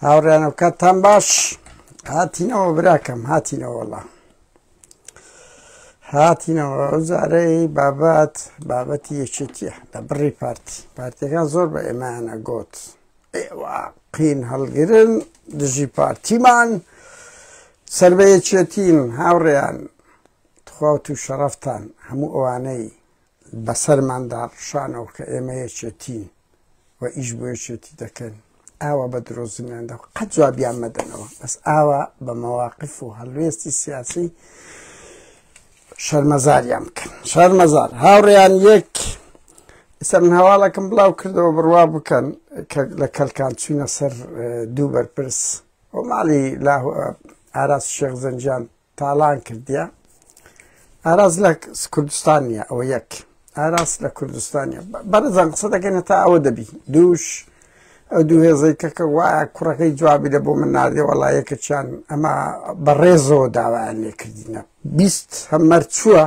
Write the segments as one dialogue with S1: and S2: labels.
S1: هاوڕێنە کاتان باش هاتینەوە براکەم هاتینەوەڵا هاتینەوە ئەوزارەی بابەت بابەتی یەکێتیە لە بڕی پارتی پارتەکان زۆر بە ئێمانە گوت قین هەڵگرن دژی پارتیمان سەر بە یەکێتین هاوڕێیان تخوا و شەڕفتان هەموو ئەوانەی بەسەرماندا ڕشانەوە کە ئێمە یەکێتین و ئیش بۆ یەکێتی دەکەن ئاوا بە درۆزنیان دە قەت جوابیان مەدەنەوە بەس ئاوا بە مەواقف و هەلوێستی سیاسی شەرمەزاریان بکەن شەرمەزار هاوڕیان یەک ئستا من هەواڵەکەم بڵاو کردەوە بڕوا بکەن لە کەلکان چوینە سەر دوو بەرپرس و ماڵی لا ئاراس شێخ زەنجان تاڵان کردیە ئاراز لە کوردستان نیە ئەوە یەک ئاراس لە کوردستانە بەرزان قسە دەکەنە تا ئەوە دەبی دووش ئەو دوو هێزەی کەکە وایە کوڕەکەی جوابی لە بۆ من نادێ وەڵایەکە چیان ئەمە بەڕێزەوە داوایان لێکردینە بیست هەمەر چووە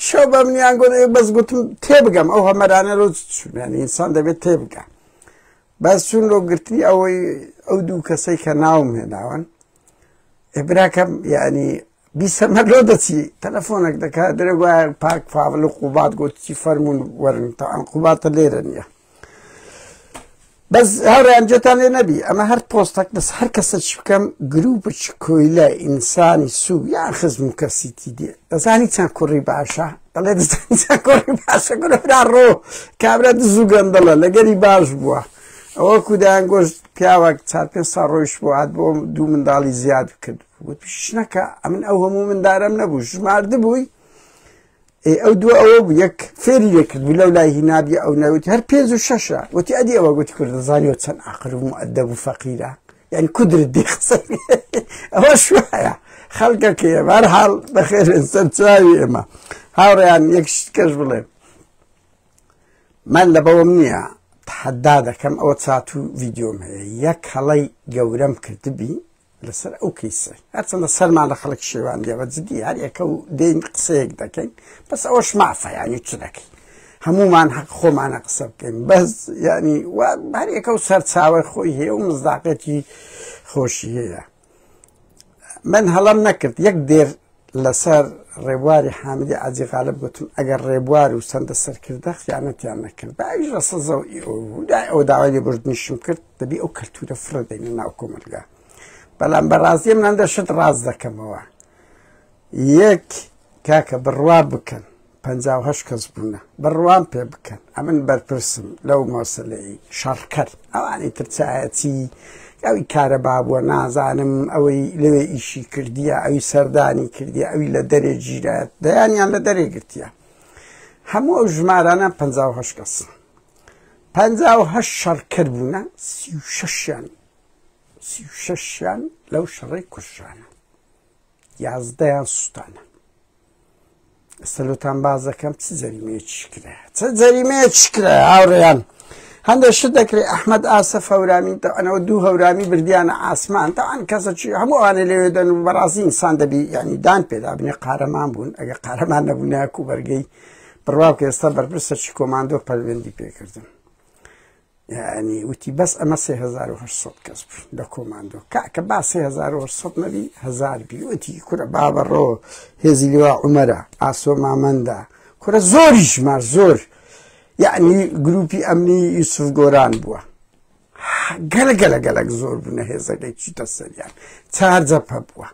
S1: شەو بە منیان گۆ بەس گوتم تێبگەم ئەو هەمەرانە لۆ چونیان ئینسان دەبێت تێبگە بەس چون لۆ گرتنی ئەوەی ئەو دوو کەسەی کە ناوم هێناون براکەم یعنی بیسەمە لۆ دەچی تەلەفۆنێک دەکا درێ وایە پاک فاول و قوبات گوتی فەرمونون وەرن تا ئەم قوباتە لێرە نییە بەس هەڕیان جێتان لێ نەبی ئەمە هەر پۆستەک بەس هەر کەسە چ بکەم گروپچ کۆیلە ئینسانی سوو یان خزم و کەسیتی دێ دەزانی چەند کوڕی باشە دەڵێ کوڕی باشە گرفرا ڕۆ کابرا دزوو گەندەڵە لەگەری باش بووە ئەوە کودایان گۆشت پیاوەک چار پێ سا ڕۆیشت بۆ هات بۆ دوو منداڵی زیاد کرد وت پیشنەکە ئەمن ئەو هەموو مندارم نەبوو ژمارد بووی ئەو دوو ئەوە بوو یەک فێری لێکرد بوو لەو لای هینابی ئەو نەوتی هەر پێنج و شەشە وتی ئەدی ئەوە گوتی کوردزانانی و چەند ئاقرم و ئەدەب و فەقیرە یعنی کودرت دێ قسە ئەوە شوایە خەڵکە کێ بار حاڵ بەخێر سەرچاوی ئێمە هاوڕیان یەک شت کەش بڵێم من لە بەوەم نییە تحەدا دەکەم ئەوە چات و ڤیددیۆم هەیە یەک هەڵەی گەورەم کردبی لەسەر ئەو کەیسە هەرچەندە سەرمان لە خەڵک شێوان دێوە جدی هەر ئێکە و دێین قسەیەک دەکەین بەس ئەوەش مافەیانی چ دەکەین هەمومان حەق خۆمانە قسە بکەین بەس ینی هەرەکە و سەرچاوی خۆی هەیە و مزداقەتی خۆشی هەیە من هەڵم نەکرد یەک دێر لەسەر ڕێبواری حامدی عجی غالب گوتم ئەگەر ڕێبوار و سندە سەرکردە خیانەتیان نەکرد باویش لە سەزە ئەو داوای لێ بردنیشم کرد دەبی ئەو کەلتورە فرە دەین ناو کۆمەلگا بەڵام بەڕاستیم نەندە شت ڕاست دەکەمەوە یەک کاکە بڕوا بکەن پەنجا و هەشت کەس بوونە بڕوام پێ بکەن ئەمن بەرپرسم لەو مەسلەی شەڕکەر ئەوانی ترچایەتی ئەوی کارە بابووە نازانم ئەوەی لەوێ ئیشی کردیە ئەوی سەردانی کردی ئەوی لە دەرێ گیرایەت دەیانیان لە دەرێ گرتیە هەموو ئەو ژمارانە پ کەس پ شەڕکرد بوونە سی و شەشیان سی و شەشیان لەو شەڕی کوشانە یازدەیان سووتانە سەلوتان باز دەکەم چ جەریمەیەکی کرا چ جەریمەیەکی کرا هاوڕێیان هەندێک شت دەکرێت ئەحمد ئاسە هەورامی ئەنەوە دوو هەورامی بردیانە ئاسمان تاوان کەسەکی هەموو ئەوانە لەوێ دەن و بەڕازی ئینسان دەبی ینی دان پێدا بنێ قارەمان بوون ئەگە قارەمان نەبوونایکو بەرگەی بڕواکە ئێستا بەرپرسەکی کۆماندۆ پەروێندی پێکردن یعنی وتی بەس ئەمە 1970 کەس بوو لە کۆماندۆ کاکە با 1970 نەبی هزار بیوتی کورە بابەڕۆ هێزی لوا عمەرە ئاسۆ مامەندە کورە زۆری ژمار زۆر یعنی گروپی ئەمنی یوسف گۆران بووە گەلە گەلە گەلک زۆر بوونە هێزەکەی چیتە سەریان چارجە پە بووە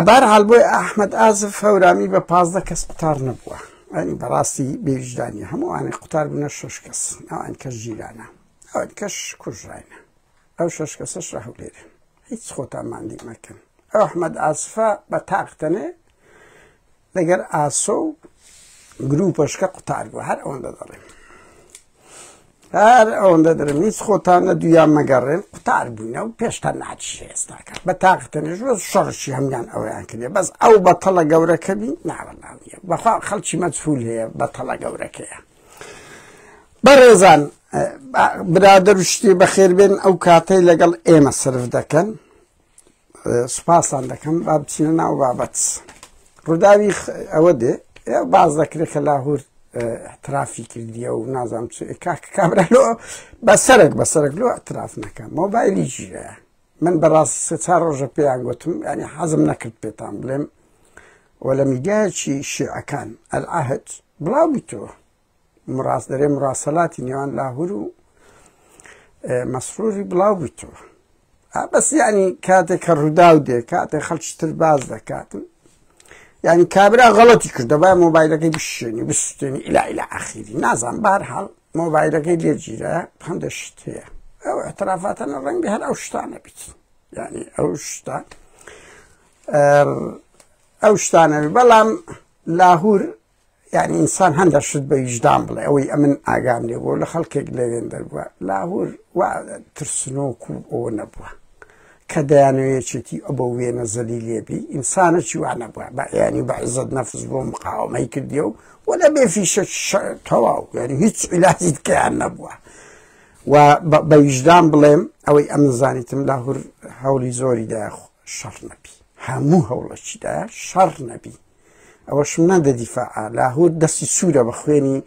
S1: بەهەرحاڵ بۆیە ئەحمەد ئازف هەورامی بە پازدە کەس قوتار نەبووە ئەنی بەڕاستی بێویژدانی هەموو ئەوانەی قوتار بوونە شش کەس ئەوان کەس ژیرانە ئەوان کەش کوژراینە ئەو شش کەسەش لە هەولێرە هیچ خۆتان ماندی مەکەن ئەو ئەحمەد ئاسفە بە تاقتەنێ لەگەر ئاسۆ و گروپەشکە قوتار بوو هەر ئەوەندە دەڵێن هەر ئەوەندە دەرم هیچ خۆتان نە دویان مەگەڕێن قوتار بووینە و پێشتا ناچی ئێستاکە بە تاقتەنێژ وە شەڕشی هەمگان ئەویان کردێ بەس ئەو بەتەڵە گەورەکە بی ناوەناویە بەخوا خەڵکی مەجفول هەیە بەتەڵە گەورەکەیە بەڕێزان برادر شتی بەخێربێن ئەو کاتەی لەگەڵ ئێمە سرف دەکەن سوپاستان دەکەم با بچینە ناو بابەت ڕووداوی ئەوە دێ باز دەکرێت کە لاهور احترافی کردیە و نازام چ کاک کابرا لۆ بە سەرک بە سەرک لۆ احتراف نەکەم مۆبایلی ژیرە من بەڕاستی سێ چار ڕۆژە پێیان گوتم ینی حەزم نەکرد پێتان بڵێم وە لە میدیایکی شیعەکان ئەلعهد بڵاو بیتەوە مڕاست دەرێ مڕاسەلاتی نێوان لاهور و مەسروری بڵاو بوویتەوە بەس ینی کاتێک کە ڕووداو دێ کاتێک خەڵکی تر باز دەکاتن ینی کابرا غەڵەتی کردە با مۆبایلەکەی بشێنی بستێنی ئیلا ئیلا ئاخیری نازان بار هەڵ مۆبایلەکەی لێگیرە هەندێک شت هەیە ئەو اعترافاتەنە ڕەنگی هەر ئەو شتانە بیت ینی ئەو شتان ئەو شتانەوی بەڵام لاهور یعنی ئینسان هەندە شت بە ویژدان بڵێ ئەوەی ئەمن ئاگام لێ بۆ لە خەڵکێک لەوێن دەربووە لاهور و ترسنۆک و ئەو نەبووە کە دەیانەوەیەکێتی ئە بۆ وێنە زەلی لێبی ئینسانە چیوانە بووە بە ینی بە عزت نەفز بۆ مقاومەی کردی و و لە بێ فیشە تەواو یعنی هیچ عیلاجی کەیان نەبووە و بە ویژدان بڵێم ئەوەی ئەمن زانیتم لاهور هەولی زۆری داخ شەڕ نەبی هەموو هەوڵەکیدا شەڕ نەبی ئەوەشم نادە دیفاع لاهور دەستی سوورە بە خوێنی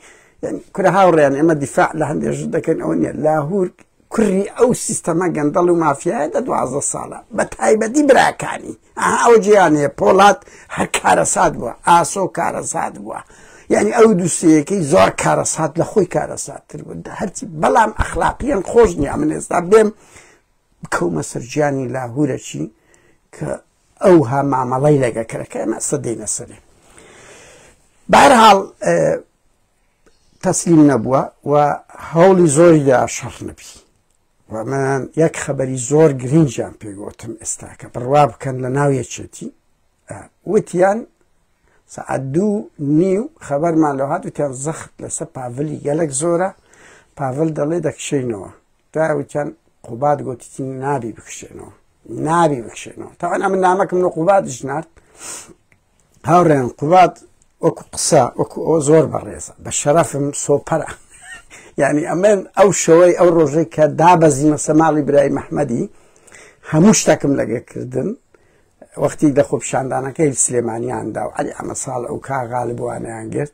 S1: کورە هاوڕێیان ئێمە دیفاع لە هەندێژ دەکەن ئەوە نیە لاهور کوری ئەو سیستەمە گەندەڵ و مافیایە دە دوازە ساڵە بە تایبەتی براکانی ئەو جیانەیە پۆڵات هەر کارەسات بووە ئاسۆ کارەسات بووە یعنی ئەو دووسەکەی زۆر کارەسات لە خۆی کارەساتتر بوو هەرچی بەڵام ئەخلاقیان خۆش نیە من ئێستا بێم بکەومە سەرجیانی لاهورەچی کە ئەوها مامەڵەی لەگە کرەکە ئەمە سەدەی نەسەرێ بارحاڵ تەسلیم نەبووە و هەوڵی زۆری دا شەڕ نەبی وەمان یەک خەبەری زۆر گرنجیان پێگوتم ئێستاکە بڕوا بکەن لە ناو یەکێتی وتیان سعات دوو نیو خەبەرمان لە هاات وتیان زەخت لەسەر پاڤلی گەلک زۆرە پاڤل دەڵێ دەکشینەوە دوای ئەوەی چەند قوباد گوتی چی نابی بکشێنەوە نابی بکشێنەوە تاوان ئەمە نامەکەم لە قوباد ژنارد هاوڕێن قوباد وەکو قسە وەکو ئەو زۆر بەڕێزە بە شەرەفم سۆپەرە یعنی ئەمن ئەو شەوەی ئەو ڕۆژەی کە دابەزیمە سەماڵی برای مححمەدی هەموو شتەکەم لەگەکردن وەختی دە خۆپشاندانەکەی سلێمانیاندا و علی ئەمە ساڵ ئەو کاغالبووانیان گرت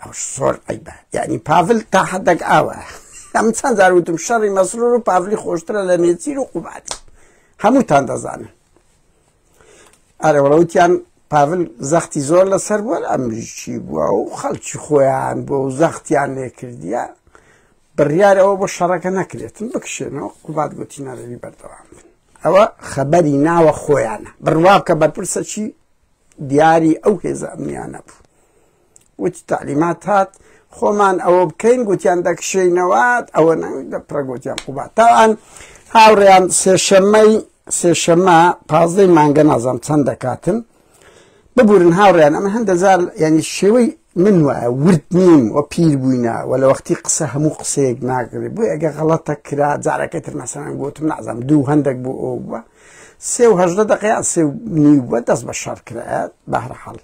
S1: ئەوش زۆر عیبە یعنی پاڤل تا حەدەک ئاوە ئەم چەند جار وتم شەڕی مەسرور و پاڤلی خۆشترە لە نێچیر و قوبات هەمووتان دەزانن ئەرەوەڵەوتیان پاڤل زەختی زۆر لەسەر بووە ئەمریکی بووە و خەڵکی خۆیان بۆ و زەختیان لێ کردیە بڕیارەوە بۆ شەڕەکە نەکرێتن بکشێنەوە قوبات گوتی نەرەوی بەردەوام بن ئەوە خەبەری ناوە خۆیانە بڕوا کە بەرپرسەکی دیاری ئەو هێزە ئەمنیانە بوو وتی تعلیمات هات خۆمان ئەوە بکەین گوتیان دەکشینەوەات ئەوە نەویدە پرەگوتیان قوبا تاوان هاوڕێیان سێشەمەی سێشەمە پازدەی مانگە نازام چەند دەکاتن ببورن هاوڕێیان ئەمە هەندەزار ینی شێوەی من وایە ورد نیم و پیر بووینە و لە وەختی قسە هەموو قسەیەک ناگرێت بۆی ئەگە غەڵەتە کرا جارەکە تر مەسەن گوتم نازم دوو هەندێک بۆ ئەو بووە سێ و هەژدە دەقەیان سێ و نیو بە دەست بە شەڕ کرایەت بەهرە حەڵ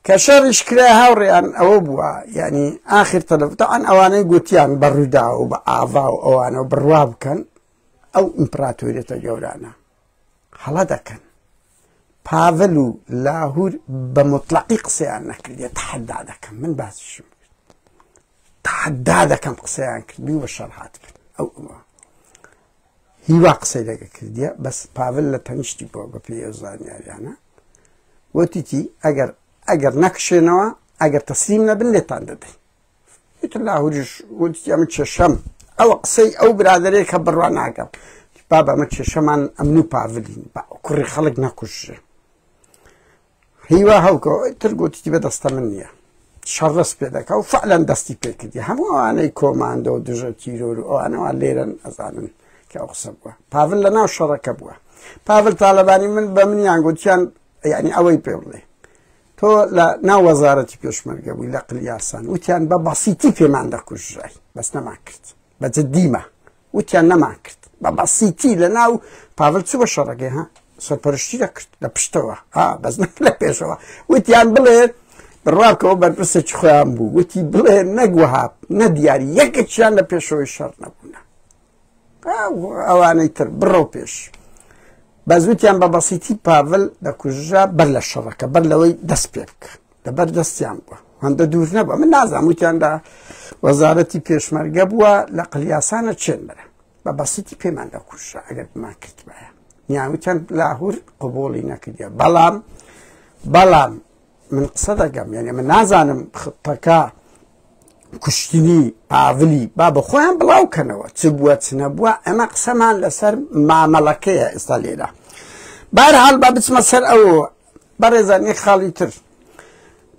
S1: کە شەڕیش کرا هاوڕێیان ئەوە بووە یعنی ئاخر تەلەفتان ئەوانەی گوتیان بە ڕوودا و بە ئاوا و ئەوانە و بڕوا بکەن ئەو ئیمپراتۆریەتە گەورانە هەڵە دەکەن پاڤل و لاهور بە مطلقی قسەیان نەکردێت تحدا دەکەم من باسیشم تحدا دەکەم قسەیان کردی و بە شەڕ هاتکرد ئەو ئەوە هیوا قسەی لەگە کردیە بەس پاڤل لە تەنیشتی بۆ بە پێی ئەو زانیاریانە وتیتی ئەگەر ئەگەر نەکشێنەوە ئەگەر تەسلیم نەبن لێتان دەدەین وتر لاهوریش وتی ئەمە کێشەم ئەوە قسەی ئەو برادێک کە بڕوان ناگەم بابە ئەمە کێشەمان ئەمن و پاڤلین کوڕی خەڵک نەکوشێ هیوا هەوکۆ تر گوتتی بە دەستە من نییە شەڕس پێ دەکە و فعلەن دەستی پێکردی هەموو ئەوانەی کۆماندە و دژە تیرۆر و ئەوانەوە لێرن ئەزانن کە ئەو قسە بووە پاڤل لە ناو شەڕەکە بووە پاڤل تاالبانی من بە منیان گوتیان یعنی ئەوەی پێ بڵێ تۆ لە ناو وەزارەتی پێشمەرگە بووی لە قلیاسان وتیان بە بەسیتی پێمان دەکوژرای بەس نەمان کرد بە جدیمە وتیان نەمان کرد بە بەسیتی لە ناو پاڤل چوو بە شەڕەکەی ها سەرپەرشتی دەکرد لە پشتەوە ها بەس نەک لە پێشەوە وتیان بڵێت بڕواکەوە بەرپرسێک خۆیان بوو وتی بڵێ نەگوهاب نە دیاری یەکێکیان لە پێشەوەی شەڕ نەبوونە ئەوانەی تر بڕۆ پێش بەزوتیان بە بەسیتی پاڤل دەکوژرا بەر لە شەڕەکە بەر لەوەی دەست پێ بکە لەبەر دەستیان بووە هەندە دوور نەبووە من نازانم وتیان لە وەزارەتی پێشمەرگە بووە لە قلیاسانە چێن برە بە بەسیتی پێمان لە کوشە ئەگەر بمان کردبایە نیاوتیان لاهور قوبولی نەکردە بەڵام بەڵام من قسە دەگەم یعنی من نازانم خپەکە کوشتنی پاڤلی با بە خۆیان بڵاو کەنەوە چ بووە چ نەبووە ئەمە قسەمان لەسەر مامەڵەکەیە ئێستا لێرە بارحال با بچمە سەر ئەو بەڕێزان یەک خاڵی تر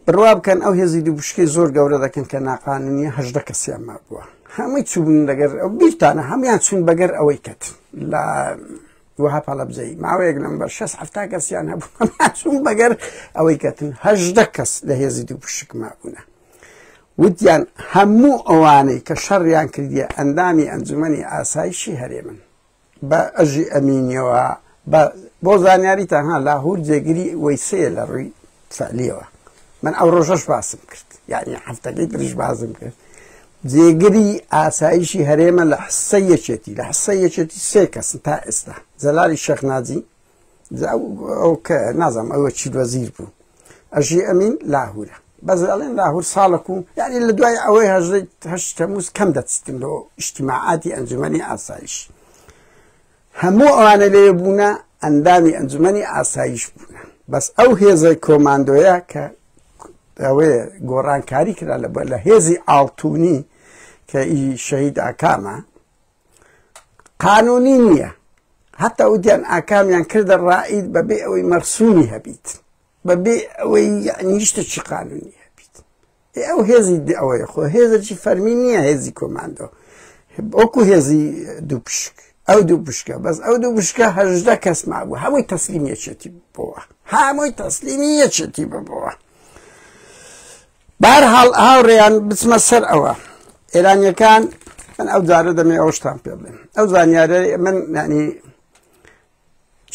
S1: بڕوا بکەن ئەو هێزی دووبشکەی زۆر گەورە دەکەن کە ناقانونیە هەژدە کەسیان مابووە هەمووی چوون لەگەر ئەو بیرتانە هەموان چوون بەگەر ئەوەی کەت لە وها پاڵەبزەی ماوەیەک لەم بەر 6 هەفتا کەسیان هەبوون بەگەر ئەوەی کەتن هەژدە کەس لە هێزی دوو پشک مابوونە وتیان هەموو ئەوانەی کە شەڕیان کردیە ئەندامی ئەنجومی ئاسایشی هەرێمن بە ئەژی ئەمینیەوە بە بۆ زانیاری تەنها لاهور جێگری وەیسەیە لە ڕووی فعلیەوە من ئەو ڕۆژەش باسم کرد یعنی هەفتەکەی تریش بازم کرد جێگری ئاسایشی هەرێمە لە حسە یەکێتی لە حسە یەکێتی سێ کەسن تا ئێستا جەلالی شەخناجی ئەو کە نازانم ئەوە چی وەزیر بوو ئەژی ئەمین لاهورە بەس ئەڵێن لاهور ساڵک و یعنی لە دوای ئەوەی هەژێت هەشت تەموز کەم دەچتن لەوە ئیشتیماعاتی ئەنجومەنی ئاسایش هەموو ئەوانە لێ بوونە ئەندامی ئەنجومەنی ئاسایش بوونە بەس ئەو هێزەی کۆماندۆیە کە ئەوێ گۆڕانکاری کرا لە بە لە هێزی ئاڵتونی کە ئی شەهید ئاکامە قانونی نییە هەتا و دیان ئاکامیان کردە ڕائید بەبێ ئەوەی مەرسومی هەبیت بەبێ ئەوەی نیشتەکی قانونی هەبیت ئەو هێزی ئەوەی خۆ هێزەکی فەرمی نییە هێزی کۆماندۆ ئۆکو هێزی دوو پشک ئەو دوو بشکە بەس ئەو دوو بشکە هەژدە کەس مابوو هەمووی تەسلیم یەکێتی بۆوە هەمووی تەسلیمی یەکێتی ببەوە بەهەرحاڵ هاوڕێیان بچمە سەر ئەوە ئێرانیەکان من ئەو جارە دەمێ ئەوشتان پێ بڵێم ئەو زانیارە من نانی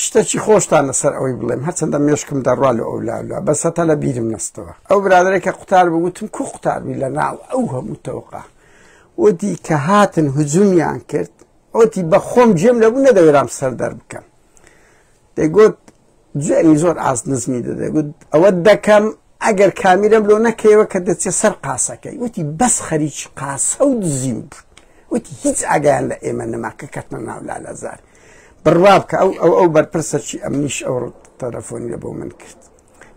S1: شتەکی خۆشتان لەسەر ئەوەی بڵێم هەرچەندە مێشکم دەڕوا لە ئەولالا بەسە تا لە بیرم نستەوە ئەو برادێکە قوتار بگوتم کو قوتاربی لە ناو ئەو هەموو تەوقا وتی کە هاتن هجومیان کرد ئەوتی بە خۆم جێم لەبوو نەدەوێرام سەر دەر بکەم دەگوت جوێنی زۆر ئاست نزمی دەدەێ گوت ئەوە دەکەم ئەگەر کامیرەم لۆ نەکەیەوە کە دەچێت سەر قاسەکەی وتی بەس خەریکی قاسە و دزیم بوو وتی هیچ ئاگیان لە ئێمە نەما کە کەتمە ناولا لەزار بڕوا بکە ئەو ئەو ئەو بەرپرسەکی ئەمنیش ئەو تەلەفۆنی لە بۆ من کرد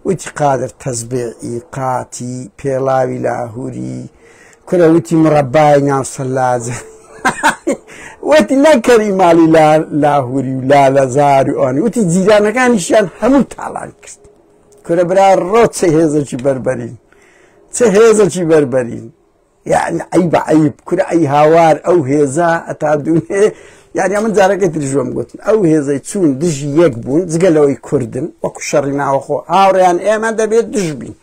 S1: وتی قادر تەزبێعی قاتی پێڵاوی لاهوری کورە وتی مڕەبای ناو سەلاجە وتی لای کەری ماڵی لا لاهوری و لا لەزار و ئەوانی وتی جیرانەکانیشیان هەموو تاڵان کرد کورە برا ڕۆ چه هێزەکی بەربەرین چه هێزەکی بەربەرین یعنی ئەی بە عیب کورە ئەی هاوار ئەو هێزە ئەتا دوێ یاری ئەمن جارەکەی تریژۆم گوتن ئەو هێزەی چوون دژی یەک بوون جگە لەوەی کوردن وەکو شەڕی ناوەخۆ هاوڕیان ئێمە دەبێت دژبین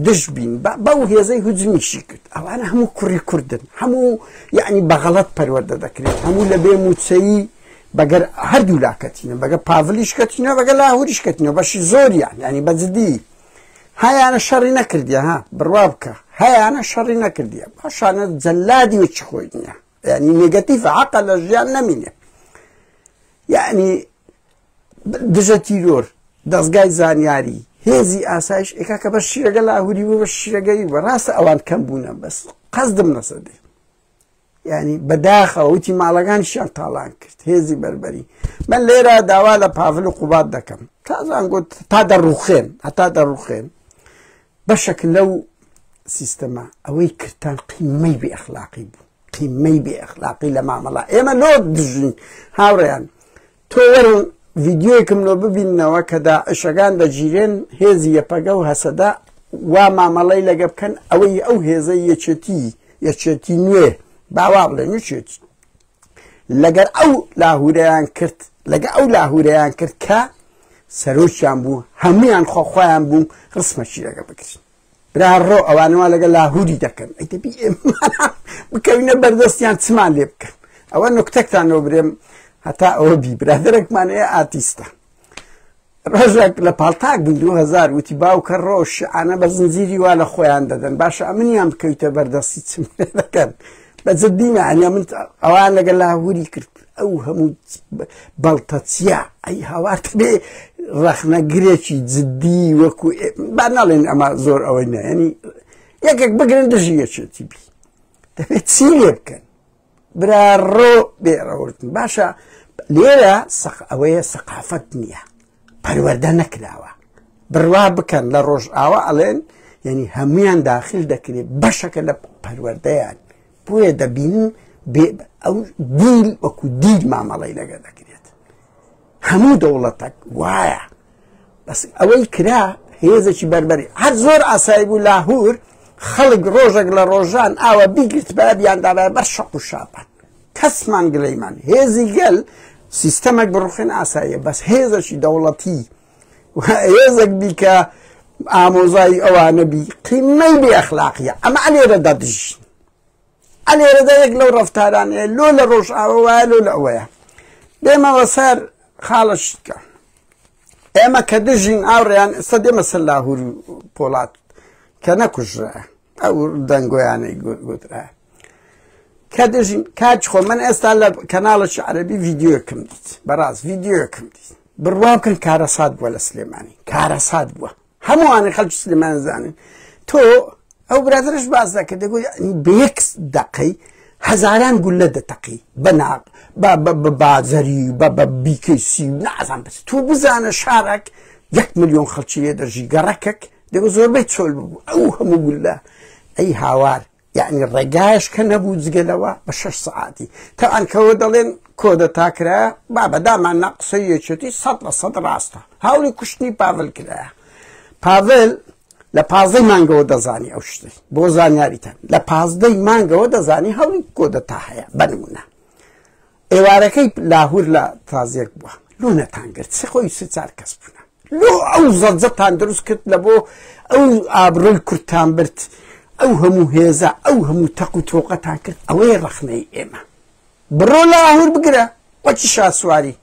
S1: دژ بین بەو هێزەی هجمیشی کرد ئەوانە هەموو کوڕی کوردن هەموو یعنی بەغەڵت پەروەەردە دەکرێت هەموو لە بێ موچەیی بەگەر هەردوو لاکەتینە بەگە پاڤلیش کەتینە بەگە لاهوریش کەتینە بەشی زۆریان ینی بەجددی هەیانە شەڕی نەکردە ها بڕوا بکە هەیانە شەڕی نەکردە باشانە جەلادی وچ خۆی نییە ینی نگەتیف عقل لە ژیان نەمینێ یعنی دژە تیرۆر دەستگای زانیاری هێزی ئاسایش ئێکا کە بە شیرەگە لاهوری بوو بە شیرەگەی بە ڕاستە ئەوان کەم بوونە بەس قەزدم نەسە دێ ینی بەداخەوە وتی ماڵەکان شیان تاڵان کرد هێزی بەربەری من لێرە داوا لە پاڤل و قوبات دەکەم تازان گوت تا دەڕوخێن هەتا دەڕوخێن بەشەک لەو سیستەما ئەوەی کرتان قیمەی بێ ئەخلاقی بوو قیمەی بێ ئەخلاقی لە مامەڵە ئێمە لۆ دژین هاوڕێیان تۆ وەرن ڤیددیوەکم لۆ ببینەوە کە داعشەکان دەگیرێن هێزی یەپەگە و هەسەدا وا مامەڵی لەگە بکەن ئەوەی ئەو هێزە یەچێتی یەچێتی نوێ باوا بڵێ نوچێت لەگەر ئەو لاهورەیان کرد لەگە ئەو لاهورەیان کرد کە سەرۆکیان بوو هەمویان خۆخوایان بوو ڕسمەکی لەگە بکرین برا ڕۆ ئەوانە وا لەگە لاهوری دەکەن ئەی دەبی ئێمە بکەوینە بەردەستیان چمان لێ بکەن ئەوە نکتەکتان لۆ برێم هەتا ئەوە بی برادرێکمان ئێ ئاتیستە ڕۆژێک لە پاڵتاک بن 2000 وتی باوکە ڕۆ شعانە بە زنجیری وا لە خۆیان دەدەن باشە ئەمنیان بکەویتە بەردەستی چم دەکەن بە جددیمە ئەنیا من ئەوان لەگەل لاهوری کرد ئەو هەموو بەڵتە چیە ئەی هاوارت بێ ڕەخنەگرێکی جددی وەکو با ناڵێن ئەمە زۆر ئەوەی نایەنی یەکێک بگرن دژی یەکێتی بی دەبێت چی لێ بکەن برا ڕۆ بێڕەوردن باشە لێرە سەق ئەوەیە سەقافەت نییە پەروەەردە نەکراوە بڕوا بکەن لە ڕۆژ ئاوا ئەڵێن یعنی هەمویان داخل دەکرێت بەشەکە لە پەروەەردەیان بۆیە دەبینین ئەو دیل وەکو دیل مامەڵی لەگە دەکرێت هەموو دەوڵەتەک وایە بەس ئەوەی کرا هێزێکی بەربەری هەر زۆر ئاسایی بوو لاهور خەڵک ڕۆژێک لە ڕۆژان ئاوە بیگرت بە بیاندابە بە شەق و شاپان کەسمان گلەیمان هێزی گەل سیستەمێک بڕوخێن ئاساییە بەس هێزەکی دەوڵەتی هێزێک بی کە ئامۆزای ئەوانە بی قیمەی بێ ئەخلاقیە ئەمە ئەلێرە دەدژین ئەلێرەدا یەک لەو ڕفتارانەیە لۆ لە ڕۆژ ئاوە وایە لۆ لە ئەوەیە دێمەوە سەر خاڵشتکە ئێمە کە دژین ئاوڕیان ئێستا دێمە سەر لاهور پۆڵات کە نەکوژرە ئەو دەنگۆیانەی گوترا کە دژین کاچ خۆ من ئێستا لە کەناڵە شعرەبی ڤیددیوکم دیت بەڕاست ڤیددیوکم دیت بڕوا بکەن کارەسات بووە لە سلێمانی کارەسات بووە هەمووانە خەڵک سلێمان زانن تۆ ئەو برادرش باز دەکرد دەگوت بەکس دقەی هەزاران گولە دەتەقی بەناق بە بازەری بە بە بیکەسی نازان بس تو بزانە شارەک یەک میلیۆن خەڵکی لێ دەژی گەڕەکەک دەبوو زۆربەی چۆل ببوو ئەو هەموو گولە ئەی هاوار یعنی ڕێگایش کە نەبوو جگەلەوە بە شش سعاتی تاانکەوە دەڵێن کۆدە تاکرا با بەدامان ناقسە یەکێتی سەد لە سەد ڕاستە هاوری کوشتنی پاڤل کرایە پاڤل لە پازدەی مانگەوە دەزانی ئەو شتی بۆ زانیاریتان لە پازدەی مانگەوە دەزانی هەوڵی کۆدەتا هەیە بەنمونە ئێوارەکەی لاهور لە تازیەک بوە لۆ نەتان گرت سێ خۆی سێ چار کەس بوون لۆ ئەو زەجەتان دروست کرد لە بۆ ئەو ئابڕۆی کورتان برد ئەو هەموو هێزە ئەو هەموو تەق و تۆقەتان کرد ئەوەی ڕەخنەی ئێمە بڕۆ لاهور بگرە وەکی شاسواری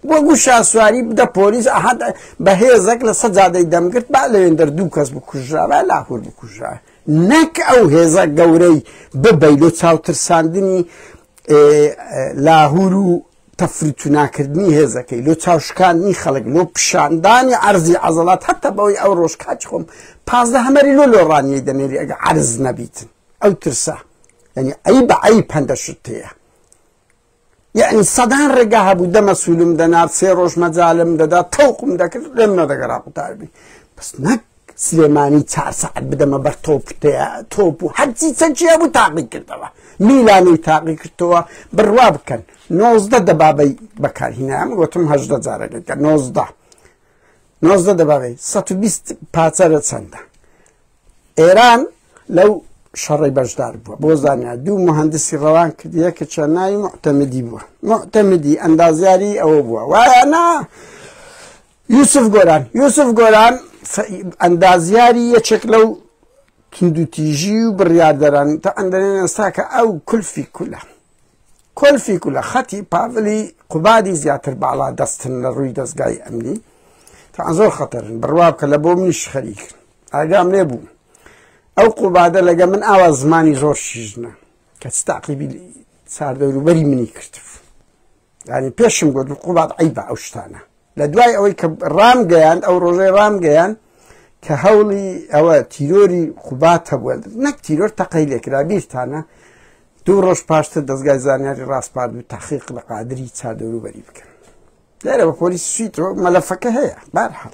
S1: بۆ گو شاسواری بدە پۆلیس ئەحد بە هێزەک لە سەجادەی دەمگرت با لەوێندەر دوو کەس بکوژرابە لاهور بکوژرا نەک ئەو هێزە گەورەی ببەی لۆ چاوترساندنی لاهور و تەفروتوناکردنی هێزەکەی لۆ چاوشکاندنی خەڵک لۆ پیشاندانی عرضی عەزڵات هەتا بەوەی ئەو ڕۆژ کاچ خۆم پازدە هەمەری لۆ لۆڕانیی دەنێری ئەگە عرض نەبیتن ئەو ترسە یعنی ئەی بە ئەی پەندە شتەیە یەعنی سەدان ڕێگا هەبوو دەمە سوولم دەنارد سێ ڕۆژ مەجالم دەدا تەوقم دەکرد لێم نەدەگەرا قوتاربی بەس نەک سلێمانی چار سەعات بدەمە بەر تۆپ تۆپ و هەرچی چەچیە بوو تاقی کردەوە میلانەی تاقی کردەوە بڕوا بکەن نۆزدە دەبابەی بەکارهینام وتم هەشدە جارەکەکە نۆزدە نۆزدە دەبابەی 120 پاچەرە چەندە ئێران لەو شەڕی بەشدار بووە بۆ زانیا دوو مهندسی ڕەوان کردیە کە چەناوی معتەمدی بووە معتەمدی ئەندازیاری ئەوە بووە وایە نا یوسف گۆران یوسف گۆران ئەندازیاری یەکێک لەو تندوتیژی و بڕاردەران تا ئەندەێن ئێستا کە ئەو کولفی کولە کۆلفی کولە خەتی پاڤلی قوبادی زیاتر باڵا دەستن لە ڕووی دەستگای ئەمنی تا زۆر خەتەرن بڕوا کە لە بۆ منیش خەریکن ئاگام لێ بوو ئەو قوبادە لەگە من ئاوا زمانی زۆر شیژنە کە تاقیبی ساردەوروبەری منی کردبوو ینی پێشم گوت قوبات ئەی بە ئەو شتانە لە دوای ئەوەی کە ڕام گەیان ئەو ڕۆژەی ڕام گەیان کە هەوڵی ئەوە تیرۆری قوبات هەبووە نەک تیرۆر تەقەی لێکرا بیرتانە دوو ڕۆژ پاشتر دەستگای زانیاری ڕاستپات و تاقیق لە قادری چادەوروبەری بکەن لێرە بە پۆلیس سویتەوە مەلەفەکە هەیە بارحاڵ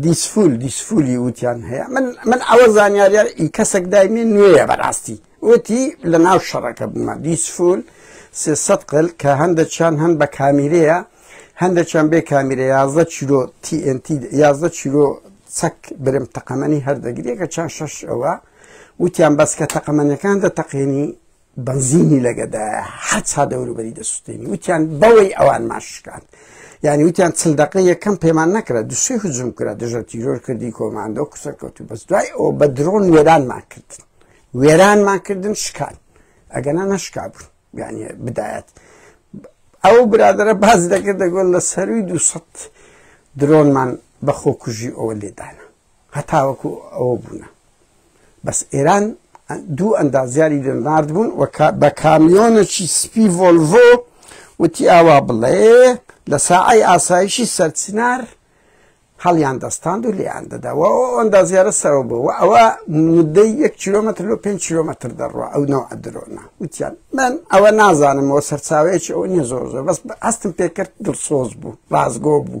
S1: دیسفول دیسفولی وتیان هەیە من من ئەوە زانیارە ئی کەسێک دایمێ نوێیە بەڕاستی وتی لە ناو شەڕەکە بوومە دیسفول سێسە قل کە هەندە چیان هەند بە کامیرەیە هەندە چیان بێ کامیرە یازدە چیرۆ TNT یازدە چیرۆ چەک برم تەقەمەنی هەردەگرێکە چند شەش ئەوە وتیان بەس کە تەقەمەنەکان دە تەقێنی بەنزینی لەگەدایە حەچا دەوروبەری دەسووتێنی وتیان بەوەی ئەوان ماشکان یعنی وتیان چل دقە یەکەم پێمان نەکرا دوسێ هجوم کرا دژە تیرۆر کردی کۆماندۆ قسە کەوت و بەس دوای ئەو بە درۆن وێرانمان کردن وێرانمان کردن شکان ئەگەنا نەشکا بوون یعنی بدایەت ئەو برادرە باز دەکرد دەگۆن لە سەروی دوسە درۆنمان بەخۆ کوژی ئەوە لێدانە هەتاوەکو ئەوە بوونە بەس ئێران دوو ئەندازیاری دەنارد بوون بە کامیۆنەکی سپی ڤۆلڤۆ وتی ئاوا بڵێ لە ساعی ئاسایشی سەرچنار هەڵیان دەستاند و لێیان دەداوە ئەوەندا زیارە سەرەوە بوو ئەوە مدەی یەک کیلومتر لۆ 5 کیلومتر دەڕوە ئەو نەوە درۆنە وتیان من ئەوە نازانمەوە سەرچاوەیەکی ئەوە نیە زۆر زۆر بەس هەستم پێکرد دڵسۆز بوو ڕازگۆ بوو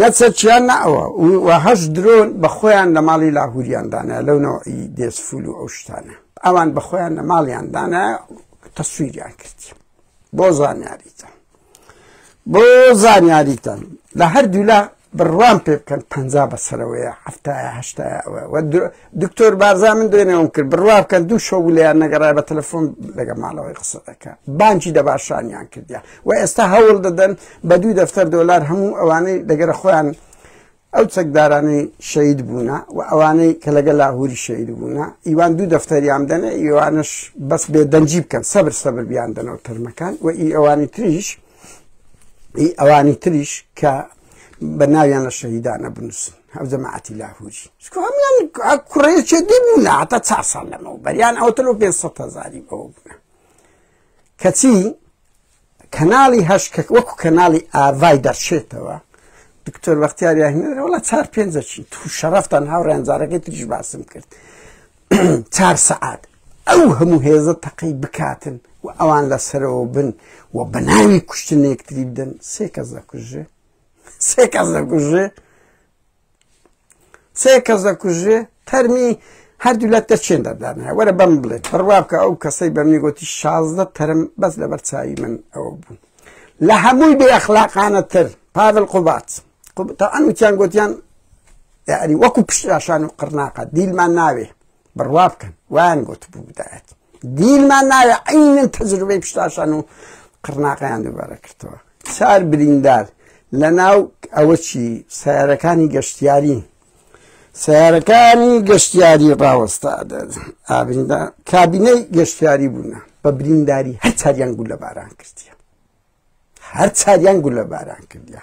S1: نەچەرچیان نەوە و هەش درۆن بە خۆیان لە ماڵی لاهوریاندانە لەو نەوەی دێسفول و ئەو شتانە ئەوان بە خۆیان لە ماڵیاندانە تەسویریان کرد بۆ زانیاریتە بۆ زانیاریتان لە هەردوولا بڕوان پێ بکەن پ بەسەرەوەیە هەفتایە هەشتایە ئەوە دکتۆر بارزان من دوێنێوم کرد بڕوا بکەن دوو شەو لەیان نەگەڕای بە تەلەفۆن لەگە ماڵەوەی قسە دەکە بانکی دەباشانیان کردیان و ئێستا هەوڵ دەدەن بە دوو دەفتەر دۆلار هەموو ئەوانەی دەگەرە خۆیان ئەو چەکدارانی شەید بوونە و ئەوانەی کە لەگە لاهوری شەید بوونە ئیوان دوو دەفتەریان دەنێ ئیوانش بەس بێ دەنجی بکەن سەبر سەبر بیان دەنەوە تەرمەکان و ئی ئەوانی تریش ئی ئەوانی تریش کە بە ناویان لە شەهیدانە بنووسن هەو جەماعەتی لاهوری چکو هەموان کوڕێکێ دەبوونە هەتا چا ساڵ لەمەوە بەریان ئەوتەلۆ پێ سەد هەزاری بەوە بوونە کەچی کەناڵی هەشکە وەکو کەناڵی ئاڤای دەرچێتەوە دکتۆر بەختیاریاهێنەر وڵە چار پێنجەچی تو شەرفتان هاوڕێن جارەکەی تریش باسم کرد چار سەعات ئەو هەموو هێزە تەقی بکاتن و ئەوان لەسەرەوە بن و بەناوی کوشتنێکتری بدەن سێ کەس دەکوژێ سێ کەس دەکوژێ سێ کەس دەکوژێ تەرمی هەردوو لە دەچێن دەدان هەیە وەرە بەم بڵێت بڕوا بکە ئەو کەسەی بە منی گوتی شازدە تەرم بەس لەبەر چاوی من ئەوە بوو لە هەمووی بێ ئەخلاقانە تر پاول قوبات ئەنوتیان گوتیان یاری وەکو پشتراشان و قڕناقە دیلمان ناوێ بڕوا بکەن وایان گوت بوودایەت دیلمان ناوێ عینن تەجروبەی پشتاشان و قڕناقیان دووبارە کردەوە چار بریندار لە ناو ئەوە چی سیارەکانی گەشتیاری سیارەکانی گەشتیاری ڕاوەستا ئابندا کابینەی گەشتیاری بوونە بە برینداری هەر چاریان گول لە باران کردیە هەر چاریان گولە باران کردیا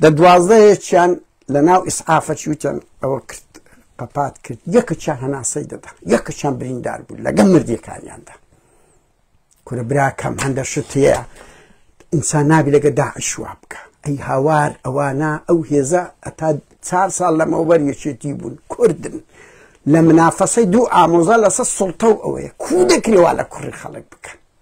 S1: دە دوازدەهێکیان لە ناو ئیسعافە چوتیان ئەوە کرد قەپات کرد یەکچیان هەناسەی دەدا یەکچیان بریندار بوو لەگەم مردیەکانیاندا کورە براکەم هەندە شت هەیە ئینسان نابی لەگە داعش وا بکە ئەی هاوار ئەوانە ئەو هێزە ئەتا چار ساڵ لەمەوبەر یەکێتی بوون کوردن لە منافەسەی دوو ئامۆزا لەسەر سڵتە و ئەوەیە کو دەکرێوا لە کوڕی خەڵک بکەن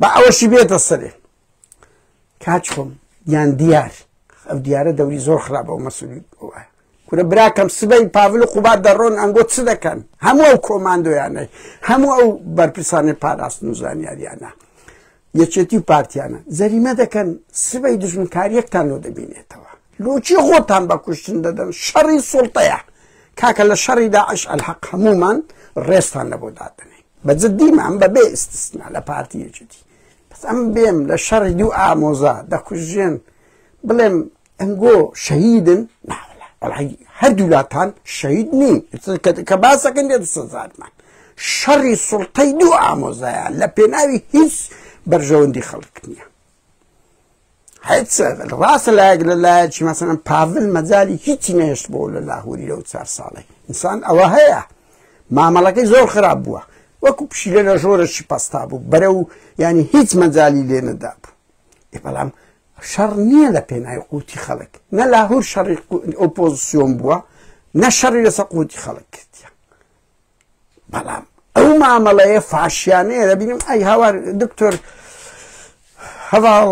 S1: با ئەوەشی بێتە سەرێ کاچ خۆم یان دیار ئەو دیارە دەوری زۆر خراپ ئەو مەسولی وایە کورە براکەم سبەی پاڤل و قوبات دەڕۆن ئەنگۆ چ دەکەن هەموو ئەو کۆماندۆیانەی هەموو ئەو بەرپرسانی پاراستن و زانیاریانە یەکێتی و پارتیانە زەریمە دەکەن سبەی دژمنکاریەکتان لۆ دەبینێتەوە لۆچی خۆتان بە کوشتن دەدەن شەڕی سڵتەیە کاکە لە شەڕیدا عش ئەلحەق هەمومان ڕێستان لە بۆ دادنێن بە جدی مام بە بێ ئستسنا لە پارتی یەکێتی بەس ئەم بێم لە شەڕی دوو ئامۆزا دەکوژێن بڵێم ئەنگۆ شەهیدن هەردوولاتان شەید نین کە باسەکەن دێت سەزارمان شەڕی سڵتەی دوو ئامۆزایە لە پێناوی هیچ بەرژەوەندی خەڵک نییە هیچ ڕاستە لایەک لە لایەکی مەسەن پاڤل مەجای هیچی نێشت بۆ لە لاهوری لەو چار ساڵی ئینسان ئەوە هەیە مامەڵەکەی زۆر خراپ بووە وەکو پشیلە لە ژۆرەشی پستا بوو بەرە و ینی هیچ مەجای لێ نەدا بوو بەڵام شەڕ نییە لە پێنای قوتی خەڵک نە لاهور شەڕی ئۆپۆزیسیۆن بووە نە شەڕی لەسە قوتی خەڵک کردە بەڵام ئەو مامەڵەیە فاشیانەیە دەبینم ئەی هاوار دکتۆر هەواڵ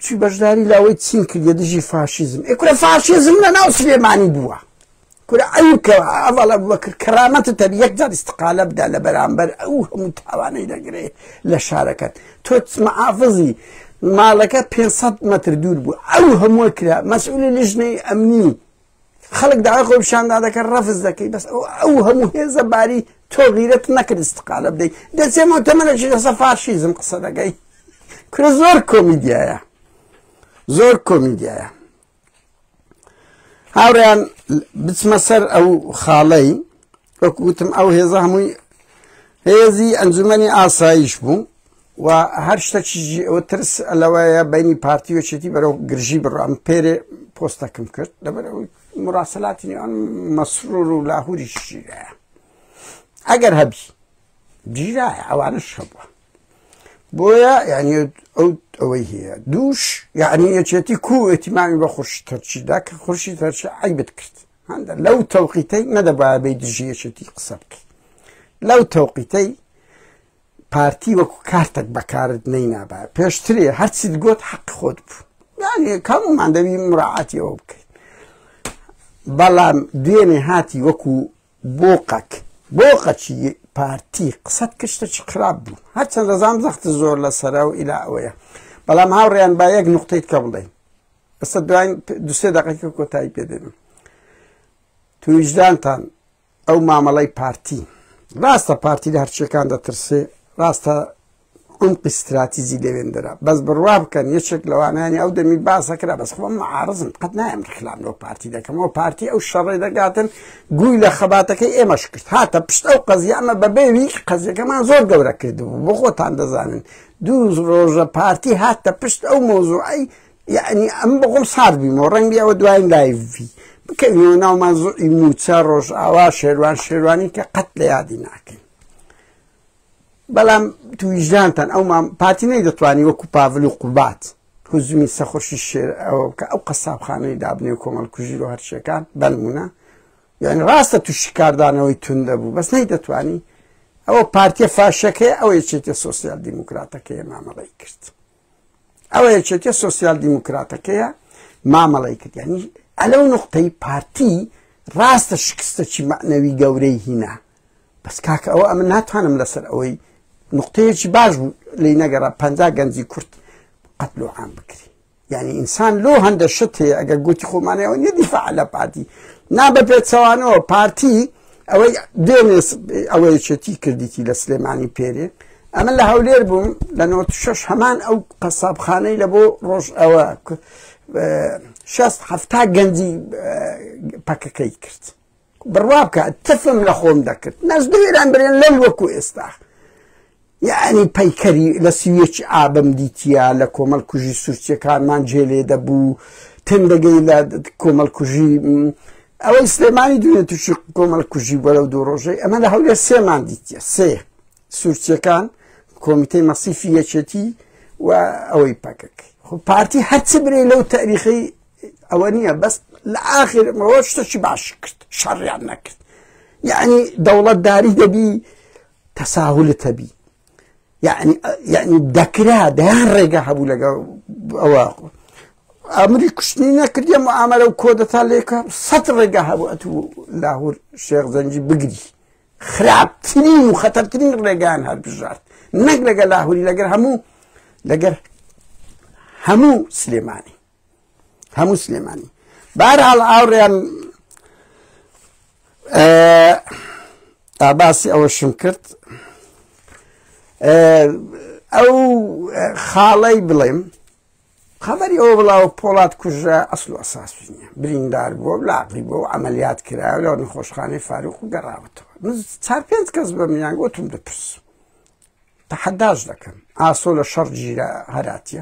S1: چی بەشداری لاوەی چین کردە دژی فاشیزم ئەکورە فاشیزم لە ناو سلێمانی بووە کورە ئەو کە ئەوڵە بەکرد کەرامەتە تەر یەکجار استقالە بدا لە بەرامبەر ئەو هەموو تاوانەی دەگرێ لە شارەکەت تۆ مەعافزی ماڵەکە 500 متر دوور بوو ئەو هەموو کرا مەسئولی لژنەی ئەمنی خەڵک داوای خۆی پیشاندا دەکەن ڕەفز دەکەی بەس ئەو هەموو هێزە باری تۆ غیرەت نەکرد استقالە بدەیت دەچێمەوە تەمەەکی لەسە فاشیزم قسە دەگەی کورە زۆر کۆمیدیایە زۆر کۆمیدیایە هاوڕیان بچمە سەر ئەو خاڵەی وەکو وتم ئەو هێزە هەمووی هێزی ئەنجومەنی ئاسایش بوو و هەر شتەکیژی ئەوە ترس لەوەیە بینی پارتی وەچێتی بەرەو گرژی بڕام پێرێ پۆستەکەم کرد لەبەر ئەوەی مراسلاتی نێوان مەسرور و لاهوری شیرایە ئەگەر هەبی جیرایە ئەوانش هەبووە بۆیە یعنی ئەو ئەوەی هەیە دووش یعنی یەکێتی کو ئەتیمامی بە خورشی تەرچیدا کە خورشی تەرچی عیبت کرد هەندە لەو تەوقیتەی نەدەبایە بەی دژی یەکێتی قسە بکەی لەو تەوقیتەی پارتی وەکو کارتێک بەکارت نەی نابە پێشترێ هەرچیت گوت حەق خۆت بوو یانێ کەمومان دەوی مراعاتیەوە بکەین بەڵام دوێنێ هاتی وەکو بۆقەک بۆقەچی پارتی قسەت کشتە چ خراپ بوو هەرچەند دەزام زەخت زۆر لە سەرا و ئیلا ئەوەیە بەڵام هاوڕێیان با یەک نقطەیت کە بڵێن ئەسە دوای دوسێ دەقەکە کۆتایی پێدێن تویژدانتان ئەو مامەڵەی پارتی ڕاستە پارتی لە هەرچەکان دەترسێ ڕاستە عمقی استراتیزی لەوێندرا بەس بڕوا بکەن یەکێک لەوانانی ئەو دەمی باسەکرا بەس خۆم معارزم قەت نایم خلام لەو پارتی دەکەمەوە پارتی ئەو شەڕێ دەگاتن گوی لە خەباتەکەی ئێمەش کرد هاتە پشت ئەو قەزیانە بەبێوی قەزیەکەمان زۆر گەورە کردبوو بۆ خۆتان دەزانن دوو ڕۆژە پارتی هاتە پشت ئەو مۆزوعی یعنی ئەم بەخۆم سارد بیمەوە ڕەنگی ئەوە دواین لایڤی بکەینەوە ناومان زۆی موچە ڕۆژ ئاوا شێوان شێوانی کە قەت لە یادی ناکەین بەڵام تویژدانتان ئەو پارتی نەی دەتوانانی وەکو پاڤل و قوبات هزمی سەخۆشی شێر ئەوە بکە ئەو قەسابخانەی دابنێ و کۆمەڵ کوژی و هەرچیەکان بەنمونە یعنی ڕاستە تووشی کاردانەوەی تون دەبوو بەس نەی دەتوانی ئەوە پارتیە فاشەکەی ئەوەی چێتە سوسیال دیموکراتەکەی مامەڵی کرد. ئەوە یەکێتیە سوسیال دیموکراتەکەیە مامەڵی کرد ینی ئەلەو نقطەی پارتی ڕاستە شکستەکی مەعنەوی گەورەی هینا بەس کاکە ئەوە ئەمە ناتوانم لەسەر ئەوەی نقطەیەکی باش بوو لی نەگەڕ پ گەنجی کورت قەتلو عام بکری یعنی ئینسان لۆ هەندە شت هەیە ئەگەر گوتی خۆمانەوە نەدیفاع لە پارتی نا بە پێچەوانەوە پارتی ئەوەی دێنێس ئەوەیەکێتی کردیتی لە سلێمانی پێرێ ئەمە لە هەولێر بووم لە 96 هەمان ئەو قەسابخانەی لە بۆ ڕۆژ ئەوە شەست هەفتا گەنجی پەکەکەی کرد بڕوا بکە تفم لە خۆم دەکرد نەزدوێران برێن لەم وەکو ئێستا یەعنی پەیکەری لە سی و یەکی ئابم دیتیە لە کۆمەڵکوژی سورچیەکانمان جێ لێ دەبوو تندەگەی لە کۆمەڵکوژی ئەوەی سلێمانی دوێنێ تووشی کۆمەڵکوژی بووە لەو دوو ڕۆژەی ئەمە لە هەولێر سێمان دیتیە سێ سورچیەکان کۆمیتەی مەسیفی یەکێتی و ئەوەی پەکەک خۆ پارتی هەرچ برێ لەو تاریخی ئەوە نییە بەس لە ئاخر ڕۆشتەکی باش کرد شەڕیان نەکرد یعنی دەوڵەتداری دەبی تساهلت هەبی یعنی یعنی دەکرا دەیان ڕێگا هەبوو لەگەڵ ئەوە ئەمری کوشتنی نەکردیم و ئامەرە و کۆدەتا لێکە سەد ڕێگا هەبوو ئەت و لاهور شێخ زەنجی بگری خراپترین و خەتەرترین ڕێگان هەر بژارد نەک لەگە لاهوری لەگەر هەموو لەگەر هەموو سلێمانی هەموو سلێمانی بارحاڵ ئاوڕێن ئاباسی ئەوەشم کرد ئەو خاڵەی بڵێم خبری ئەو بڵاو پۆڵات کوژە ئەسل و ئەساسی نیە بریندار بووە لاقی بۆ ئەمەلیات کرا لە نەخۆشخانەی فاروق و گەڕاوەتەوە چار پێنج کەس بە میان گوتم دەپرس تەحەداش دەکەم ئاسۆ لە شەڕ گیرە هەراتە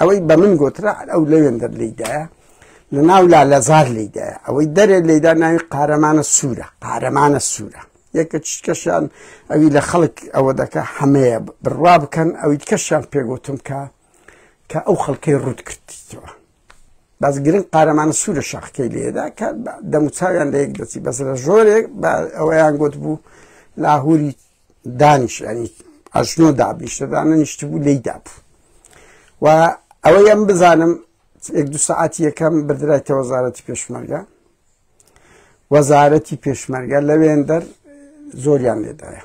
S1: ئەوەی بە من گوترا ئەو لەوێندەر لیدایە لە ناو لا لەزار لیدایە ئەوەی دەرێ لێدا ناوی قارەمانە سوورە قارەمانە سوورە یەکە چکەشان ئەوی لە خەڵک ئەوە دەکە هەمەیە بڕوا بکەن ئەوی کەشان پێگوتم کە کە ئەو خەڵکەی ڕوت کردیتەوە باز گرنگ قارەمانە سوورە شاخکەی لێدا کە دەموچاویان لە یەک دەچی بەس لە ژۆرێک ئەوەیان گوت بوو لاهوری دانیش ئەنی ئەژنۆ دابنیشتە دانەنیشت بوو لی دابوو و ئەوە ئەم بزانم یەک دو سعاتی یەکەم بردرایتە وەزارەتی پێشمەرگە وەزارەتی پێشمەرگە لەوێندەر زۆریان لێدایە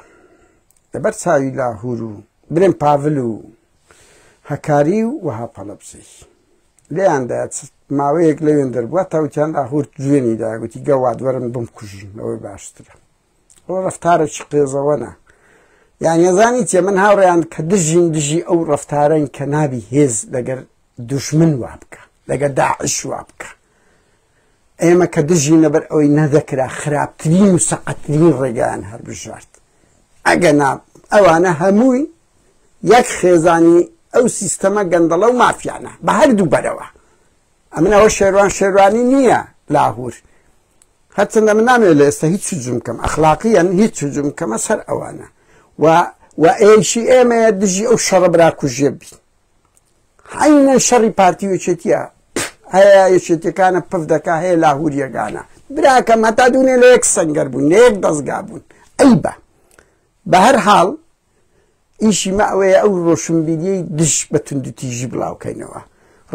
S1: لەبەر چاوی لاهور و برێن پاڤل و هەکاری و وەها پەڵەبزی لێیاندا ماوەیەک لەوێن دەربووە تاوتیان ئاهورت جوێنی داگوتی گەوادوەرم بم کوژن ئەوەی باشترە ئەوە ڕفتارێکی قێزەوەنە یان یەزانی چێ من هاوڕێیان کە دژین دژی ئەو ڕفتارەن کە نابی هێز لەگەر دوشمن وا بکە لەگە داعش وا بکە ئێمە کە دژی نەبەر ئەوەی نەدەکرا خراپترین و سەقەترین ڕێگەیان هەر بژارد ئەگە نا ئەوانە هەمووی یەک خێزانی ئەو سیستەمە گەندەڵە و مافیانە بە هەردوو بەرەوە ئەمن ئەوە شێروان شێروانی نییە لاهور هەرچەندە من نامێ لە ئێستا هیچ جوم کەم ئەخلاقیان هیچ جوم کەمە سەر ئەوانە و و ئێشی ئێمەیە دژی ئەو شەڕە براکوژێ بین حینە شەڕی پارتی وچێتیە هەیە یەکێتەکانە پف دەکا هەیە لاهوریەکانە براکەم هەتا دوونێ لە یەک سنگەر بوون لە یەک دەستگا بوون ئەی بە بە هەر حاڵ ئیشی مە ئەوەیە ئەو ڕۆشنبیریەی دژ بە توندوتیژی بڵاوکەینەوە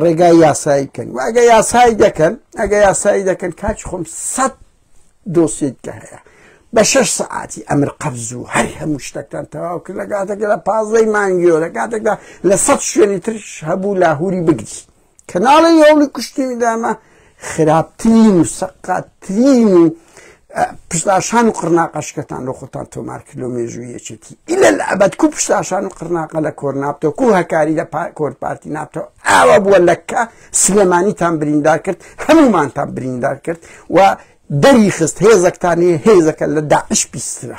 S1: ڕێگای یاسایی بکەن و ئەگە یاسایی دەکەن ئەگە یاسایی دەکەن کاچ خۆم سەد دۆسیت کە هەیە بە شش سعاتی ئەمر قەبز و هەر هەموو شتەکان تەواو کرد لە کاتێکدا پازدەی مانگیۆ لە کاتێکدا لە سەد شوێنی ترش هەبوو لاهوری بگری کەناڵی هەوڵی کوشتنی دامە خراپترین و سەقاتترین و پشتاشان و قڕناقەشکەتان لە خۆتان تۆمار کردۆ مێژووی یەکێتی ئیلە لە ئەبەتکو پشتاشان و قڕناقە لە کۆر نابتۆکو هەکاری لە کۆر پارتی نابتەوە ئاوا بووە لەکە سلێمانیتان بریندار کرد هەمومانتان بریندار کرد و دەری خست هێزەکتانی هێزەکە لە داعش پیسترە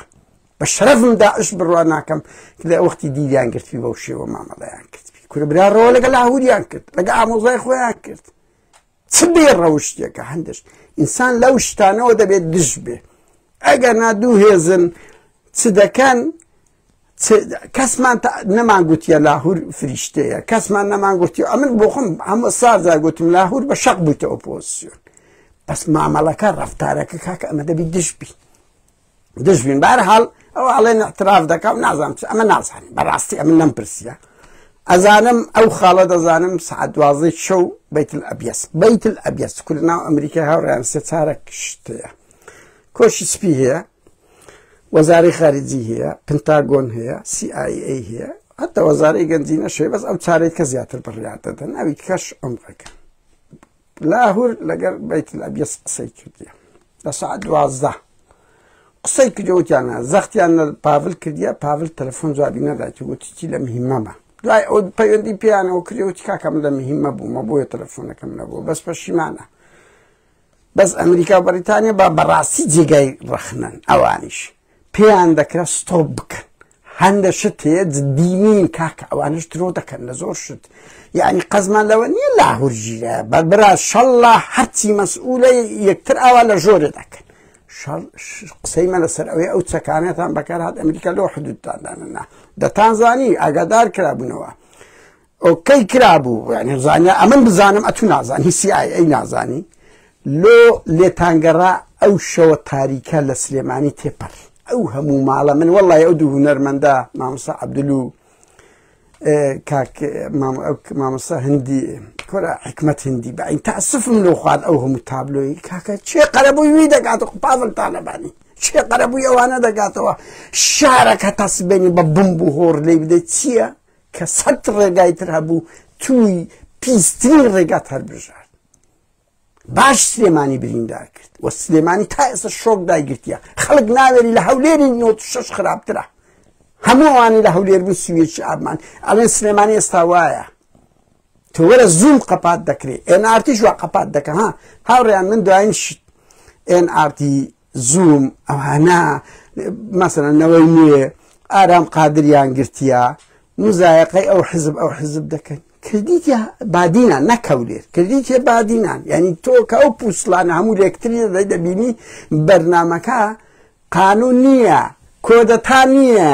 S1: بە شەرەفم داعش بڕوا ناکەم کە لە وەختی دیلیان گرتوی بەو شێوە مامەڵەیان کردبی کورە براڕەوە لەگە لاهوریان کرد لەگە ئامۆزای خۆیان کرد چ بێ ڕەوشتێکە هەندش ئینسان لەو شتانەوە دەبێت دژ بێ ئەگەر نا دوو هێزن چ دەکەن کەسمان نەمان گوتیە لاهور فریشتەیە کەسمان نەمان گوتی ئەمن بۆ خۆم هەمە سازا گوتم لاهور بە شەق بوویتە ئۆپۆسیۆن بەس مامەڵەکە ڕفتارەکە کاکە ئەمە دەبی دژ بی دژبین بارحاڵ ئەو ئاڵێن اعتراف دەکەم نازانم چ ئەمە نازانم بەڕاستی ئەمن نەم پرسیە ئەزانم ئەو خاڵە دەزانم سعات دوازەی شەو بیت ئەبیس بیت ئەبیس کورد ناو ئەمریکای هاوڕیان سێ چارە کشتەیە کۆشی سپی هەیە وەزاری خارجی هەیە پنتاگۆن هەیە CIA هەیە حتا وەزارەی گەنجینە شێ بەس ئەو چارێک کە زیاتر بڕیار دەدەن ئەوی کەش ئەمڕەکە لاهور لەگەر بیت الابیس قسەی کردیە لە سعات دوازدە قسەی کردەوتیانە زەختیان لە پاڤل کردیە پاڤل تەلەفۆن جوابی نەدایت وتیی لە مهمەمە دوای ئەو پەیوەندی پێیانەوە کردەوتی کاکەم لە مهمە بوومە بۆیە تەلەفۆنەکەم نەبوو بەس پەشیمانە بەس ئەمریکا و بەریتانیا با بەڕاستی جێگای ڕەخنن ئەوانیش پێیان دەکرا ستۆپ بکەن هەندە شت هەیە جدینین کاکە ئەوانش درۆ دەکەن لە زۆر شت یعنی قەزمان لەوە نییە لاهور ژیرە بە برا شەڵا هەرچی مەسئولە یەکتر ئاوا لە ژۆرە دەکەن قسەی مە لەسەر ئەوەی ئەو چەکانێتان بەکارهات ئەمریکا لۆ حدودتانداننا دەتان زانی ئاگادار کرابوونەوە ئۆکەی کرابوو یعنی زانیا ئەمن بزانم ئەتو نازان هی سی ئای ئەی نازانی لۆ لێتانگەڕا ئەو شەوە تاریکە لە سلێمانی تێپەر ئەو هەموو ماڵە من وەڵی ئەو دوو هوەرمەندە مامسا عبدلو کاک مامسا هەندی کۆرە حکمت هندی بە تا سفم لۆ خوارد ئەو هەموو تابلۆی کاکە چێ قەرەبووی وی دەکاتە قوپاڤلتانەبانی چێ قەرەبووی ئەوانە دەگاتەوە شارەکە تاسبێنی بە بم بوو هۆڕ لی بدەیت چییە؟ کە سەد ڕێگای تر هەبوو تووی پیسترین ڕێگات هەربژارد باش سلێمانی بریندار کرد و سلێمانی تا ئێستا شۆک دایگرتیە خەڵک ناوێری لە هەولێری نۆ شش خراپترە هەمووانی لە هەولێر بوو سوێکی ئابمان ئەڵێن سلێمانی ئێستا وایە تۆ وەرە زووم قەپات دەکرێت ئێن ئارتیش وا قەپات دەکە ها هاوڕیان من دوایین شت ئێن ئارتی زووم ئەوانە مەسەرەن نەوەی نوێ ئارام قادریان گرتیە مزایقەی ئەو حزب ئەو حزب دەکەن کردیتە بادینان نەکەولێر کردیتە بادینان یعنی تۆ کە ئەو پووسلان هەموو لەکتری دەی دەبینی بەرنمەکە قانون نییە کۆدەتا نییە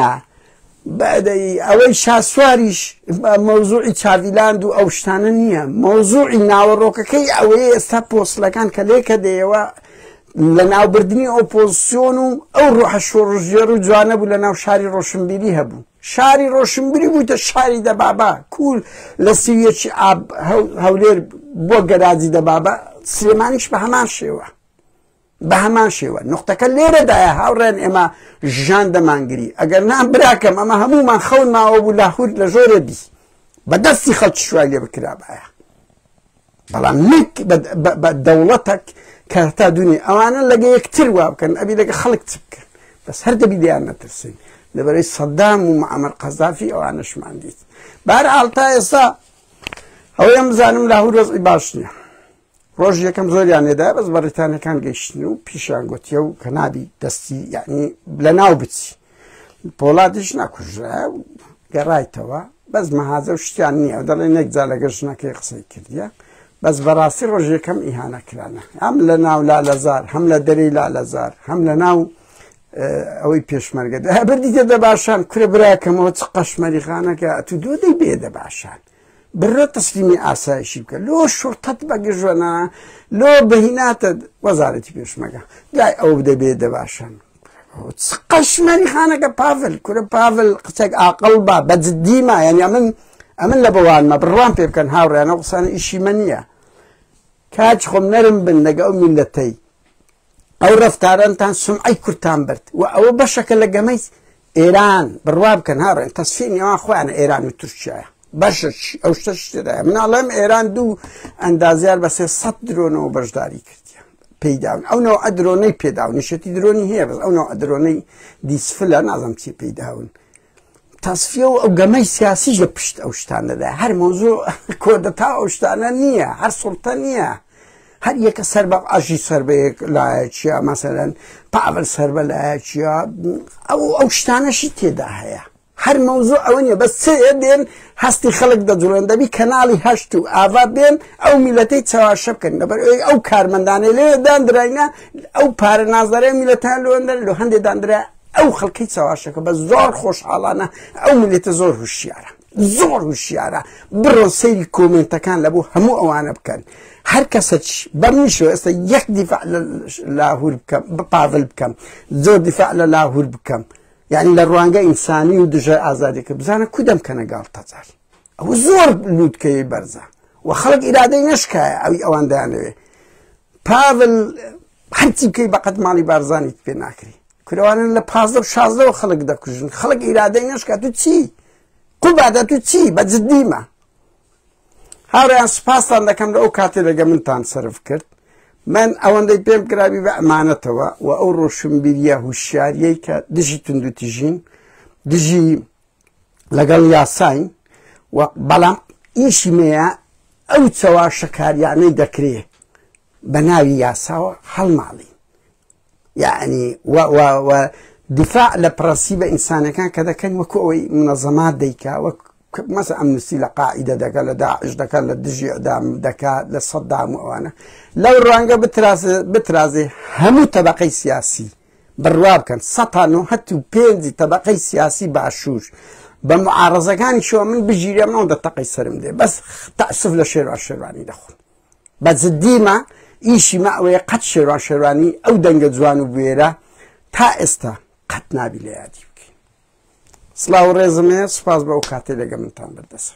S1: بەدەی ئەوەی شاسواریش مەوزوعی چاڤیلاند و ئەو شتانە نییە مەوزوعی ناوەڕۆکەکەی ئەوەیە ئێستا پۆستلەکان کە لێکە دەیەوە لە ناوبردنی ئۆپۆزسیۆن و ئەو ڕۆحە شۆڕژێر و جوانە بوو لە ناو شاری ڕۆشنبیری هەبوو شاری ڕۆشنبیری بووتە شاری دەبابا کوول لە سویەکی ئاب هەولێر بۆ گەراجی دەبابا سلێمانیش بە هەمان شێوە بە هەمان شێوە نقطەکە لێرەدایە هاوڕێن ئێمە ژان دەمانگری ئەگەر نام براکەم ئەمە هەمومان خەون ماوە بوو لاهور لە ژۆرە بی بە دەستی خەڵکی شوای لێ بکرابایە بەڵام نەک بە دەوڵەتەک کە تا دونی ئەوانە لەگە یەکتر وا بکەن ئەبی لەگە خەڵک چ بکەن بەس هەر دەبی دیان نەترسین لەبەرەی سەدام و معمر قەزافی ئەوانەشمان دیت بار ئاڵتا ئێستا ئەوەیە بزانم لاهور وەزی باش نیە ڕۆژ یەکەم زۆریان لێدا بەس بەڕیتانەکان گەیشتن و پیشیان گوتیە و کە نابی دەستی یعنی لە ناو بچی پۆڵاتیش ناکوژرا گەڕایتەوە بەس مەهازە و شتیان نییە دەڵێن نەکجا لەگە ژنەکەی قسەی کردیە بەس بەڕاستی ڕۆژەکەم ئیهانە کرانە ئەم لە ناو لا لەزار هەم لە دەری لا لەزار هەم لە ناو ئەوەی پێشمەرگە بردیتە دە باشان کورە براکەمەوە چ قەشمەری خانەکە تو دۆدەی بێ دە باشان برۆ تەسلیمی ئاسایشی بکە لۆ شوڕتەت بەگژۆنا لۆ بەهیناتە وەزارەتی پێشمەگە دوای ئەو دەبێ دەباشن قەشمەری خانەکە پاڤل کورە پاڤل قسەک ئاقل با بەجددیما یعنی من ئەمن لە بەوانمە بڕوان پێ بکەن هاوڕێنە قسانە ئیشی من نیە کاچ خۆم نەرم بن لەگە ئەو میلەتەی ئەو ڕەفتارەنتان سومعەی کوردتان برد و ئەوە بەشەکە لە گەمەی ئێران بڕوا بکەن هاڕێن تەسفی نێوان خۆیانە ئێران و تورکیایە بەشەکی ئەو شتە شتێدا مناڵم ئێران دوو ئەندازیار بە سێ سەد درۆنەوە بەشداری کرد پێداون ئەو نەوە ئەدرۆنەی پێداون نیشەتی درۆنی هەیە بەس ئەو نەوە ئەدرۆنەی دیسفلە نازم چی پێداون تەسفیە و ئەو گەمەی سیاسیش لە پشت ئەو شتانەدا هەر مۆزوع کۆدەتا ئەو شتانە نییە هەر سڵتە نییە هەر یەکە سەر بە ئاژی سەر بەیەک لایەکیە مەسەرەن پاول سەر بە لایەکیە ئەو ئەو شتانەشی تێدا هەیە هەر مەوزوع ئەوە نیە بەس چێ دێن هەستی خەڵک دەجوڵێن دەبی کەناڵی هەشت و ئاوا بێن ئەو میلەتەی چاواشە بکەن لەبەر ئەوی ئەو کارمەندانە لێ داندراینە ئەو پارە نازدارای میلەتان لەوەندەر لە هەندێ داندرا ئەو خەڵکەی چەواشەکە بە زۆر خۆشحاڵانە ئەو منێتە زۆر هوشیارە زۆر هوشیارە بڕۆ سەیری کۆمنتەکان لە بۆ هەموو ئەوانە بکەن هەر کەسە بەم نیشە ئێستا یەک دیفاع لاهور بکەم بە پاڤل بکەم زۆر دیفاع لە لاهور بکەم یعنی لە ڕوانگە ئینسانی و دژە ئازادێکە بزانە کودەم کەنە گاڵ تەجار ئەو زۆر لووتکەی بەرزە و خەڵک ئیرادەی نشکایە ئەوی ئەوان دانەوێ پاڤل هەرچی بکەی بەقەد ماڵی بارزانیت پێ ناکری کورەوانن لە پازدە و شازدەوە خەڵک دەکوژن خەڵک ئیرادەی نشکات و چی قوبادە تو چی بە جددیمە هاوریان سوپاستان دەکەم لە ئەو کاتێ لەگە منتان سرف کرد من ئەوەندەی پێم گرابی بە ئەمانەتەوە و ئەو ڕۆشنبیریە هوشیاریەی کە دژی تونندوتیژین دژی لەگەڵ یاساین و بەڵام ئیشی مەیە ئەو چەواشەکاریانەی دەکرێت بە ناوی یاساوە هەڵماڵین یعنی و و و دفاع لە پرەنسیبە ئینسانەکان کە دەکەن وەکو ئەوەی منەزەمات دەیکا وەک مەسە ئەمنستی لە قاعدە دەکە لە داعش دەکات لە دژی ئەدام دەکات لە سەددام و ئەوانە لەو ڕوانگە بترازێ هەموو تەبقەی سیاسی بڕوا بکەن سەتان و هەت و پێنجی تەبقەی سیاسی باشوور بە معارزەکانی شوە من بژیرە ماو دە تەقەی سرم دێ بەس تاسف لە شێروا شێوانی دەخۆن بە جدی مە ئیشی مە ئەوەیە قەت شێروان شێروانی ئەو دەنگە جوان و بوێرە تا ئێستا قەت نابی لە یادی بکەین سلااو ڕێزمێ سوپاس بە ئەو کاتێ لەگە منتان بردەسە